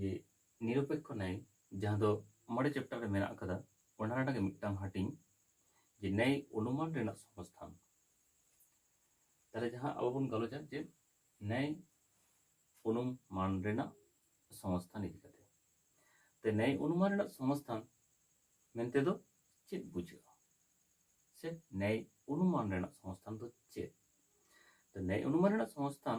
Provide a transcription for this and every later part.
ᱡᱮ ᱱᱤᱨᱚᱯᱮᱠᱠᱷᱚ ᱱᱟᱭ ᱡᱟᱦᱟᱸ ᱫᱚ ᱢᱚᱬᱮ ᱪᱮᱯᱴᱟᱨ ᱨᱮ ᱢᱮᱱᱟᱜ ᱟᱠᱟᱫᱟ ᱚᱱᱟ ᱨᱮᱱᱟᱜ ᱜᱮ ᱢᱤᱫᱴᱟᱝ ᱦᱟᱹᱴᱤᱧ ᱡᱮ ᱱᱟᱭ ᱚᱱᱩᱢᱟᱱ ᱨᱮᱱᱟᱜ ᱥᱚᱝᱥᱛᱷᱟᱱ ᱛᱟᱦᱞᱮ ᱡᱟᱦᱟᱸ ᱟᱵᱚ ᱵᱚᱱ ᱜᱟᱞᱚᱪᱟ ᱡᱮ ᱱᱟᱭ ᱚᱱᱩᱢᱟᱱ ᱨᱮᱱᱟᱜ ᱥᱚᱝᱥᱛᱷᱟᱱ ᱤᱫᱤ ᱠᱟᱛᱮ ᱛᱮ ᱱᱟᱭ ᱚᱱᱩᱢᱟᱱ ᱨᱮᱱᱟᱜ ᱥᱚᱝᱥᱛᱷᱟᱱ ᱢᱮᱱᱛᱮ ᱫᱚ ᱪᱮᱫ ᱵᱩᱡᱷᱟᱹᱜᱼᱟ ᱥᱮ ᱱᱟᱭ ᱚᱱᱩᱢᱟᱱ ᱨᱮᱱᱟᱜ ᱥᱚᱝᱥᱛᱷᱟᱱ ᱫᱚ ᱪᱮᱫ ᱛᱚ ᱱᱟᱭ ᱚᱱᱩᱢᱟᱱ ᱨᱮᱱᱟᱜ ᱥᱚᱝᱥᱛᱷᱟᱱ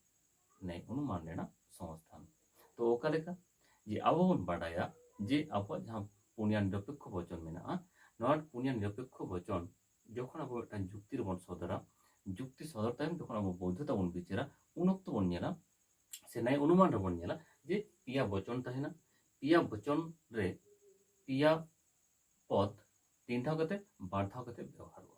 ᱱᱮᱭ ᱚᱱᱩᱢᱟᱱ ᱨᱮᱱᱟᱜ ᱥᱚᱝᱥᱛᱷᱟᱱ ᱛᱚ ᱚᱠᱟ ᱞᱮᱠᱟ ᱡᱮ ᱟᱵᱚ ᱵᱚᱱ ᱵᱟᱰᱟᱭᱟ ᱡᱮ ᱟᱵᱚᱣᱟᱜ ᱡᱟᱦᱟᱸ ᱯᱩᱱᱭᱟ ᱱᱤᱨᱚᱯᱮᱠᱠᱷᱚ ᱵᱚᱪᱚᱱ ᱢᱮᱱᱟᱜᱼᱟ ᱱᱚᱣᱟ ᱯᱩᱱᱭᱟ ᱱᱤᱨᱚᱯᱮᱠᱠᱷᱚ ᱵᱚᱪᱚᱱ ᱡᱚᱠᱷᱚᱱ ᱟᱵᱚ ᱢᱤᱫᱴᱟᱝ ᱡᱩᱠᱛᱤ ᱨᱮᱵᱚᱱ ᱥᱚᱫᱚᱨᱟ ᱡᱩᱠᱛᱤ ᱥᱚᱫᱚᱨ ᱛᱟᱭᱚᱢ ᱡᱚᱠᱷᱚᱱ ᱟᱵᱚ ᱵᱳᱭᱫᱷᱚᱛᱟ ᱵᱚᱱ ᱵᱤᱪᱟᱹᱨᱟ ᱩᱱ ᱚᱠᱛᱚ ᱵᱚᱱ ᱧᱮᱞᱟ ᱥᱮ ᱱᱮᱭ ᱚᱱᱩᱢᱟᱱ ᱨᱮᱵᱚᱱ ᱧᱮᱞᱟ ᱡᱮ ᱯᱮᱭᱟ ᱵᱚᱪᱚᱱ ᱛᱟᱦᱮᱱᱟ ᱯᱮᱭᱟ ᱵᱚᱪᱚᱱ ᱨᱮ ᱯᱮᱭᱟ ᱯᱚᱫ ᱛᱤᱱ ᱫᱷᱟᱣ ᱠᱟᱛᱮ ᱵᱟᱨ ᱫᱷᱟᱣ ᱠᱟᱛᱮ ᱵᱮᱣᱦᱟᱨᱚᱜᱼᱟ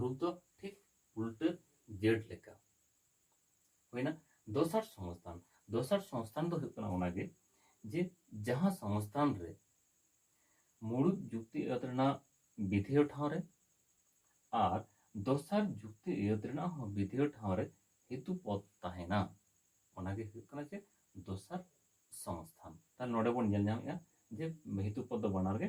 ᱨᱩᱯ ᱫᱚ ᱴᱷᱤᱠ ᱩᱞᱴᱟᱹ ᱡᱮᱰ ᱞᱮᱠᱟ ᱦᱩᱭᱱᱟ ᱫᱚᱥᱟᱨ ᱥᱚᱝᱥᱛᱷᱟᱱ ᱫᱚᱥᱟᱨ ᱥᱚᱝᱥᱛᱷᱟᱱ ᱫᱚ ᱦᱩᱭᱩᱜ ᱠᱟᱱᱟ ᱚᱱᱟᱜᱮ ᱡᱮ ᱡᱟᱦᱟᱸ ᱥᱚᱝᱥᱛᱷᱟᱱ ᱨᱮ ᱢᱩᱲᱩᱫ ᱡᱩᱠᱛᱤ ᱟᱹᱛ ᱨᱮᱱᱟᱜ ᱵᱤᱫᱷᱮᱭ ᱴᱷᱟᱶ ᱨᱮ ᱟᱨ ᱫᱚᱥᱟᱨ ᱡᱩᱠᱛᱤ ᱟᱹᱛ ᱨᱮᱱᱟᱜ ᱦᱚᱸ ᱵᱤᱫᱷᱮᱭ ᱴᱷᱟᱶ ᱨᱮ ᱦᱮᱛᱩ ᱯᱚᱫ ᱛᱟᱦᱮᱱᱟ ᱚᱱᱟᱜᱮ ᱦᱩᱭᱩᱜ ᱠᱟᱱᱟ ᱡᱮ ᱫᱚᱥᱟᱨ ᱥᱚᱝᱥᱛᱷᱟᱱ ᱛᱟᱦᱞᱮ ᱱᱚᱰᱮ ᱵᱚᱱ ᱧᱮᱞ ᱧᱟᱢᱮᱫᱼᱟ ᱡᱮ ᱦᱮᱛᱩ ᱯᱚᱫ ᱫᱚ ᱵᱟᱱᱟᱨ ᱜᱮ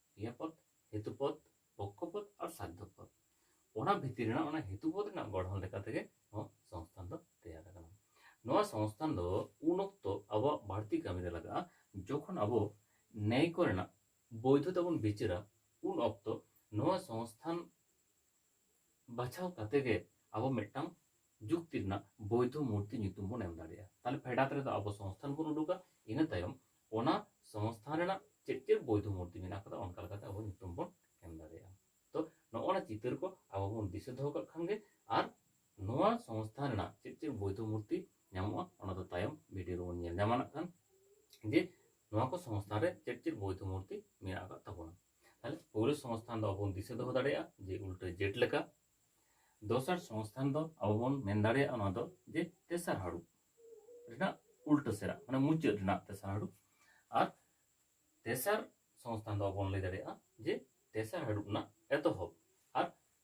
ᱠᱨᱤᱭᱟᱯᱚᱫ ᱦᱮᱛᱩᱯᱚᱫ ᱯᱚᱠᱠᱷᱚᱯᱚᱫ ᱟᱨ ᱥᱟᱫᱽᱫᱷᱚᱯᱚᱫ ᱚᱱᱟ ᱵᱷᱤᱛᱤᱨ ᱨᱮᱱᱟᱜ ᱚᱱᱟ ᱦᱮᱛᱩᱯᱚᱫ ᱨᱮᱱᱟᱜ ᱜᱚᱲᱦᱚᱱ ᱞᱮᱠᱟ ᱛᱮᱜᱮ ᱱᱚᱣᱟ ᱥᱚᱝᱥᱛᱷᱟᱱ ᱫᱚ ᱛᱮᱭᱟᱨ ᱟᱠᱟᱱᱟ ᱱᱚᱣᱟ ᱥᱚᱝᱥᱛᱷᱟᱱ ᱫᱚ ᱩᱱ ᱚᱠᱛᱚ ᱟᱵᱚᱣᱟᱜ ᱵᱟᱹᱲᱛᱤ ᱠᱟᱹᱢᱤ ᱨᱮ ᱞᱟᱜᱟᱜᱼᱟ ᱡᱚᱠᱷᱚᱱ ᱟᱵᱚ ᱱᱮᱭ ᱠᱚᱨᱮᱱᱟᱜ ᱵᱳᱭᱫᱷᱚᱛᱟ ᱵᱚᱱ ᱵᱤᱪᱟᱹᱨᱟ ᱩᱱ ᱚᱠᱛᱚ ᱱᱚᱣᱟ ᱥᱚᱝᱥᱛᱷᱟᱱ ᱵᱟᱪᱷᱟᱣ ᱠᱟᱛᱮ ᱜᱮ ᱟᱵᱚ ᱢᱤᱫᱴᱟᱝ ᱡᱩᱠᱛᱤ ᱨᱮᱱᱟᱜ ᱵᱳᱭᱫᱷᱚ ᱢᱩᱨᱛᱤ ᱧᱩᱛᱩᱢ ᱵᱚᱱ ᱮᱢ ᱫᱟᱲᱮᱭᱟᱜᱼᱟ ᱛᱟᱦᱞᱮ ᱯᱷᱮᱰᱟᱛ ᱨᱮᱫᱚ ᱟᱵᱚ ᱥᱚᱝᱥᱛᱷᱟᱱ ᱵᱚᱱ ᱩᱰᱩᱠᱟ ᱤᱱᱟᱹ ᱛᱟᱭᱚᱢ ᱚᱱᱟ ᱥᱚᱝᱥᱛᱷᱟᱱ ᱨᱮᱱᱟᱜ ᱪᱮᱫ ᱪᱮᱫ ᱵᱳᱭᱫᱷᱚ ᱢᱩᱨᱛᱤ ᱢᱮᱱᱟᱜ ᱠᱟᱫᱟ ᱚᱱᱠᱟ ᱞᱮᱠᱟᱛᱮ ᱟᱵᱚ ᱧᱩᱛᱩᱢ ᱵᱚᱱ ᱮᱢ ᱫᱟᱲᱮᱭᱟᱜᱼᱟ ᱛᱚ ᱱᱚᱜᱼᱚ ᱱᱟ ᱪᱤᱛᱟᱹᱨ ᱠᱚ ᱟᱵᱚ ᱵᱚᱱ ᱫᱤᱥᱟᱹ ᱫᱚᱦᱚ ᱠᱟᱜ ᱠᱷᱟᱱ ᱜᱮ ᱟᱨ ᱱᱚᱣᱟ ᱥᱚᱝᱥᱛᱷᱟᱱ ᱨᱮᱱᱟᱜ ᱪᱮᱫ ᱪᱮᱫ ᱵᱳᱭᱫᱷᱚ ᱢᱩᱨᱛᱤ ᱧᱟᱢᱚᱜᱼᱟ ᱚᱱᱟ ᱫᱚ ᱛᱟᱭᱚᱢ ᱵᱷᱤᱰᱤᱭᱳ ᱨᱮᱵᱚᱱ ᱧᱮᱞ ᱧᱟᱢᱟ ᱱᱟᱜ ᱠᱷᱟᱱ ᱡᱮ ᱱᱚᱣᱟ ᱠᱚ ᱥᱚᱝᱥᱛᱷᱟᱱ ᱨᱮ ᱪᱮᱫ ᱪᱮᱫ ᱵᱳᱭᱫᱷᱚ ᱢᱩᱨᱛᱤ ᱢᱮᱱᱟᱜ ᱟᱠᱟᱫ ᱛᱟᱵᱚᱱᱟ ᱛᱟᱦᱚᱞᱮ ᱯᱳᱭᱞᱳ ᱥᱚᱝᱥᱛᱷᱟᱱ ᱫᱚ ᱟᱵᱚ ᱵᱚᱱ ᱫᱤᱥᱟᱹ ᱫᱚᱦᱚ ᱫᱟᱲᱮᱭᱟᱜᱼᱟ ᱡᱮ ᱩᱞᱴᱟᱹ ᱡᱮᱴ ᱞᱮᱠᱟ ᱫᱚᱥᱟᱨ ᱥᱚᱝᱥᱛᱷᱟᱱ ᱫᱚ ᱟᱵᱚ ᱵᱚᱱ ᱢᱮᱱ ᱫᱟᱲᱮᱭᱟᱜᱼᱟ ᱚᱱᱟ ᱫᱚ ᱡᱮ ᱛᱮᱥᱟᱨ ᱦᱟᱹᱲᱩ ᱨᱮᱱᱟᱜ ᱩᱞᱴᱟᱹ ᱥᱮᱨᱟ ᱢᱟᱱᱮ ᱢᱩᱪᱟᱹᱫ ᱨᱮᱱᱟᱜ ᱛᱮᱥᱟᱨ ᱦᱟᱹᱲᱩ ᱟᱨ ᱛᱮᱥᱟᱨ ᱥᱚᱝᱥᱛᱷᱟᱱ ᱫᱚ ᱟᱵᱚ ᱵᱚᱱ ᱞᱟᱹᱭ ᱫᱟᱲᱮᱭᱟᱜᱼᱟ ᱡᱮ ᱛᱮᱥᱟᱨ ᱦᱟᱹᱲᱩ ᱨᱮᱱᱟᱜ ᱮᱛᱚᱦᱚᱵ ᱟᱨ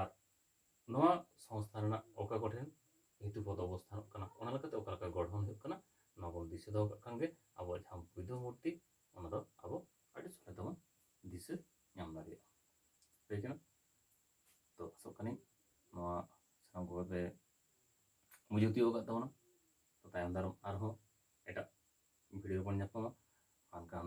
ᱟᱨ ᱱᱚᱣᱟ ᱥᱚᱝᱥᱛᱷᱟ ᱨᱮᱱᱟᱜ ᱚᱠᱟ ᱠᱚᱴᱷᱮᱱ ᱦᱮᱛᱩ ᱯᱚᱫ ᱚᱵᱚᱥᱛᱷᱟᱱᱚᱜ ᱠᱟᱱᱟ ᱚᱱᱟ ᱞᱮᱠᱟᱛᱮ ᱚᱠᱟ ᱞᱮᱠᱟ ᱜᱚᱲᱦᱚᱱ ᱦᱩᱭᱩᱜ ᱠᱟᱱᱟ ᱱᱚᱣᱟ ᱵᱚᱱ ᱫᱤᱥᱟᱹ ᱫᱚᱦᱚ ᱠᱟᱜ ᱠᱷᱟᱱ ᱜᱮ ᱟᱵᱚᱣᱟᱜ ᱡᱟᱦᱟᱸ ᱵᱩᱫᱷᱚ ᱢᱩᱨᱛᱤ ᱚᱱᱟ ᱫᱚ ᱟᱵᱚ ᱟᱹᱰᱤ ᱥᱚᱞᱦᱮ ᱛᱮᱵᱚᱱ ᱫᱤᱥᱟᱹ ᱧᱟᱢ ᱫᱟᱲᱮᱭᱟᱜᱼᱟ ᱦᱩᱭ ᱠᱟᱱᱟ ᱛᱚ ᱟᱥᱚᱜ ᱠᱟᱹᱱᱟᱹᱧ ᱱᱚᱣᱟ ᱥᱟᱱᱟᱢ ᱠᱚᱜᱮ ᱯᱮ ᱵᱩᱡᱷᱟᱹᱣ ᱛᱤᱭᱳᱜ ᱟᱠᱟᱫ ᱛᱟᱵᱚᱱᱟ ᱛᱚ ᱛᱟᱭᱚᱢ ᱫᱟᱨᱟᱢ ᱟᱨᱦᱚᱸ ᱮᱴᱟᱜ ᱵᱷᱤᱰᱤᱭᱳ ᱵᱚᱱ ᱧᱟᱯᱟᱢᱟ ᱢᱮᱱᱠᱷᱟᱱ